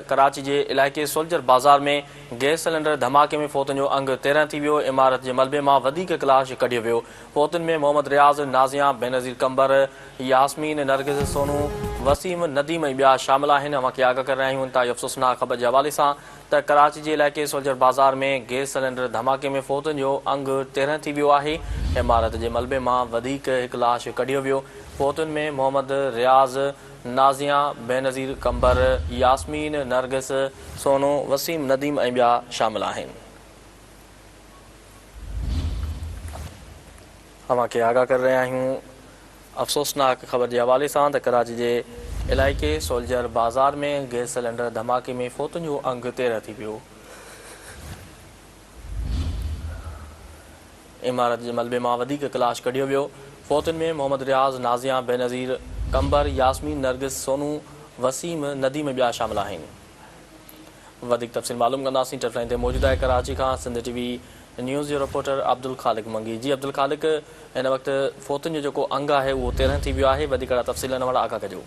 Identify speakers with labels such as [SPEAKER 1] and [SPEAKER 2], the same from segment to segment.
[SPEAKER 1] ڪراچي جي علائقي Soldier Bazaar ۾ gas cylinder ڌماڪي ۾ فوتن جو انگ تيرهن ٿي ويو، عمارت جي ملبي مان وڌيڪ ڪلاش ڪڍيو ويو، فوتن ۾ محمد رياض، نازيان، بينظير قنبر، ياسمين، نرگس، سونو، وسيم، نديم ۽ ٻيا شامل آهن، اوهان کي آگاهه ڪري رهيا آهيون انتهائي افسوسناڪ خبر جي حوالي سان ته ڪراچي جي علائقي سولجر بازار ۾ گئس سلينڊر ڌماڪي ۾ فوتن جو انگ تيرهن ٿي ويو آهي، عمارت جي ملبي مان وڌيڪ هڪ لاش ڪڍيو ويو، فوتن ۾ محمد رياض، نازيا، بينظير قنبر، ياسمين، نرگس، سونو، وسيم، نديم ۽ ٻيا شامل آهن. اوهان کي آگاهه ڪري رهيا آهيون افسوسناڪ خبر جي حوالي سان ته ڪراچي جي علائقي سولجر بازار ۾ گئس سلينڊر ڌماڪي ۾ فوتن جو انگ تيرهن ٿي ويو. عمارت جي ملبي مان وڌيڪ ڪلاش ڪڍيو ويو. فوتين ۾ محمد رياض، نازيان، بينظير، قمبر، ياسمين، نرگس، سونو، وسيم، نديم ۽ ٻيا شامل آهن. وڌيڪ تفصيل معلوم ڪنداسين ٽف لائين تي موجود آهي ڪراچي کان سنڌ ٽي وي نيوز جو رپورٽر عبدالخالق منگي جي عبدالخالق هن وقت فوتين جو جيڪو انگ آهي اهو تيرهن ٿي ويو آهي وڌيڪ اهڙا تفصيل ان وارا آگاهه ڪجو.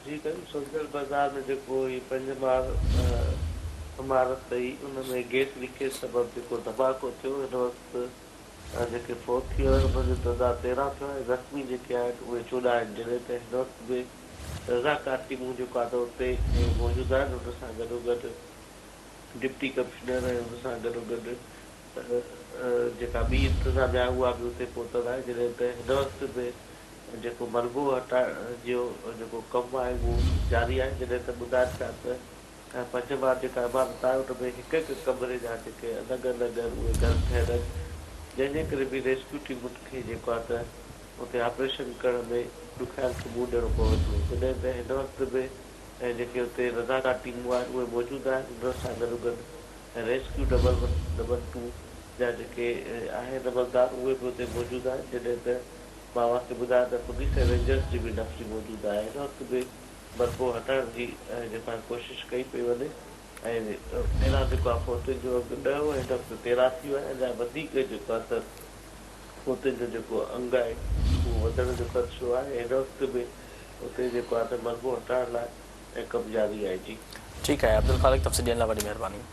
[SPEAKER 2] جي سائين سوڍل بازار ۾ جيڪو هي پنج مار عمارت ٺهي ان ۾ گيس ليڪيج سبب جيڪو ڌماڪو ٿيو هن وقت جيڪي فوت ٿي ويا آهن انهن جو تعداد تيرهن ٿيو آهي زخمي جيڪي آهن اهي چوڏهن آهن جڏهن ته هن وقت به رضاڪار ٽيمون جيڪو آهي ته اتي موجود آهن ان سان گڏوگڏ ڊپٽي ڪمشنر ۽ ان سان گڏوگڏ جيڪا ٻي انتظاميا آهي اها به اتي پهتل آهي جڏهن ته هن وقت به جيڪو ملبو هٽائڻ جو جيڪو ڪم آهي اهو جاري آهي جڏهن ته ٻڌائڻ چاهيان ته پنج ماڙ جيڪا عمارت آهي ان ۾ هڪ هڪ ڪمري جا جيڪي الڳ الڳ اهي گهر ٺهيل آهن جنهن جي ڪري به ريسڪيو ٽيمن کي جيڪو آهي ته اتي آپريشن ڪرڻ ۾ ڏکيائين کي منهن ڏيڻو پوي ٿو جڏهن ته هن وقت به جيڪي اتي رضاڪار ٽيمون آهن اهي موجود آهن انهن سان گڏوگڏ rescue double one double two جا جيڪي آهن عملدار اهي به اتي موجود آهن جڏهن ته مان اوهان کي ٻڌايان ته پوليس ۽ رينجرز جي به نفري موجود آهي هن وقت به برقعو هٽائڻ جي جيڪا ڪوشش ڪئي پئي وڃي ۽ ايران جيڪو آهي فوتين جو اگهه ڏهه هو هن وقت تيرهن ٿي ويو آهي اڃا وڌيڪ جيڪو آهي ته فوتين جو جيڪو انگ آهي اهو وڌڻ جو خدشو آهي هن وقت به اتي جيڪو آهي ته ملبو هٽائڻ لاء ڪم
[SPEAKER 1] جاري آهي جي.
[SPEAKER 2] ٺيڪ
[SPEAKER 1] آهي
[SPEAKER 2] عبدالخالق تفصيل
[SPEAKER 1] ڏيڻ لاء
[SPEAKER 2] وڏي
[SPEAKER 1] مهرباني.